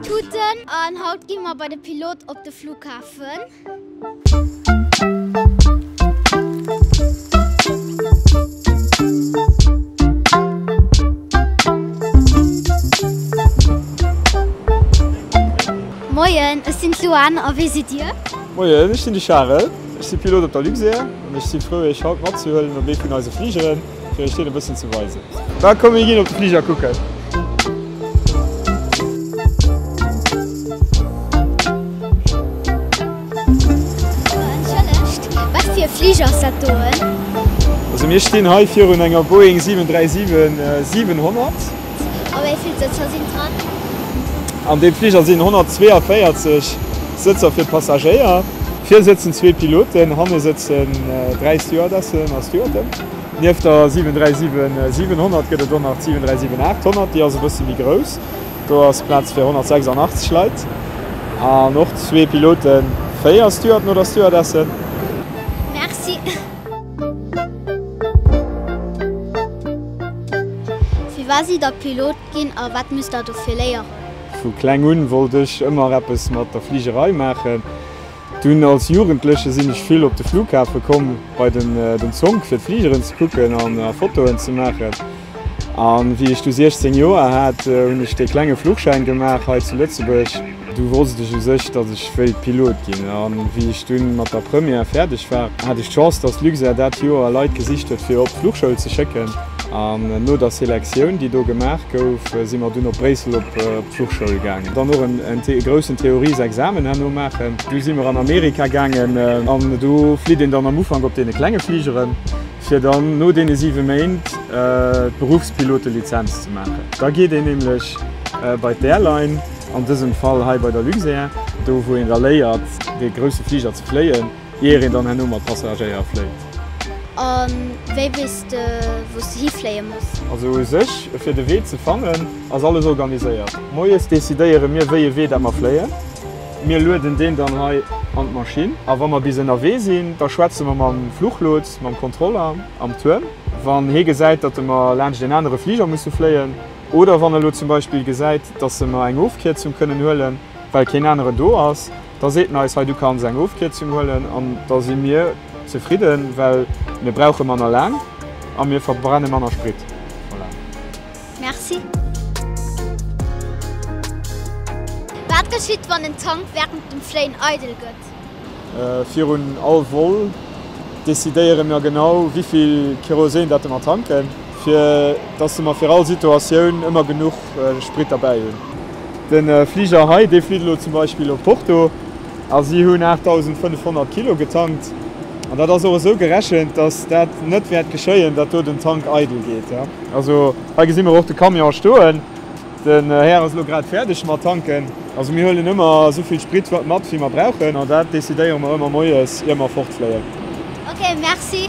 Tuten an haut gi mer bei de Pilot op de Flughafen. Moien, ech sinn d'Luan a wee sidd Dir? Moien, ech sinn de Charel, ech si Pilot op der Luxair an ech si frou Iech haut matzehuelen op ee vun eise Fligeren. Fir ech deen e bëssen ze weisen. Da komm mir ginn op de Fliger kucken. Fliger ass dat doen? Also mir stinn hei virun enger Boeing 737 700. A wéi vill Sëtzer sinn dran? An deem Fliger sinn 142 Sëtzer fir d'Passagéier. Vir sëtzen zwee Piloten, hanne sëtzen dräi Stewardessen a Stewarden. Nieft der 737 700 gëtt et och nach d'737 800, déi ass e bësse méi grouss. Do ass Plaz fir 186 Leit an och zwee Piloten, véier Stewarden oder Stewardessen. Merci. Firwat sidd Der Pilot ginn a wat musst Der dofir léieren? Vu kleng un wollt ech ëmmer eppes mat der Fligerei maachen. Dunn als Jugendleche sinn ech vill op de Flughafe komm bei den Zonk fir d'Fligeren ze kucken an Fotoen ze maachen. A wéi ech du 16 Joer hat, hunn ech dee klenge Fluchschäin gemaach hei zu Lëtzebuerg. Du wousst ech u sech, datt ech wéilt Pilot ginn. A wéi ech dunn mat der Première fäerdeg war, hat ech d'Chance, datt Luxair dat Joer Leit gesicht huet fir op d'Fluchschoul ze schécken. An no der Selectioun, déi do gemaach gouf, si mer dunn op Bréissel op d'Fluchschoul gaangen. Dann och e groussen Theoriesexamen herno maachen. Du si mer an Amerika gaangen. An do flitt een dann am Ufank op deene klenge Fligeren. fir dann no deene 7 Méint d'Beruffspilotelizenz ze maachen. Da geet een nämlech bei d'Airline, an dësem Fall hei bei der Luxair, do wou een da léiert dee grousse Fliger ze fléien, ier een dann herno mat Passagéier fléit. A wéi weess de wou s de hifléie muss? Also u sech fir de Wee ze fannen ass alles organiséiert. Moies decidéiere mir wéi e Wee dat mer fléien. Mir lueden deen dann hei an d'Maschinn. A wa mer bis ënnerwee sinn, da schwätze mer mam Fluchlots, mam Kontroller am Tuerm. Wann hee gesäit, datt e mer laanscht een anere Fliger musse fléien, oder wann e lo zum Beispill gesäit, datt e mer eng Ofkierzung kënnen huelen, well keen anere do ass, da seet en eis, hei du kanns eng Ofkierzung huelen. An da si mir zefridden, well mir brauche manner Lärm a mir verbrenne manner Sprit. Voilà. Merci. Wat geschitt wann en Tank während dem Fléien eidel gëtt? Virun all Vol decidéiere mir genau wéivill Kerosin dat de mer tanken, fir dass de mer fir all Situatioun ëmmer genuch Sprit derbäi hunn. De Fliger hei, dee flitt elo zum Beispill op Porto. A si hunn 8.500 Kilo getankt. An dat ass och esou gerechent, datt dat net wäert geschéien, datt do den Tank eidel geet. Also hei gesi mer och de Camion stoen. Den Här ass elo grad fäerdeg mat tanken. Also mir huelen ëmmer esou vill Sprit mat, wéi mer brauchen. An dat decidéiere mer ëmmer moies, ier mer fortfléien. Ok, merci.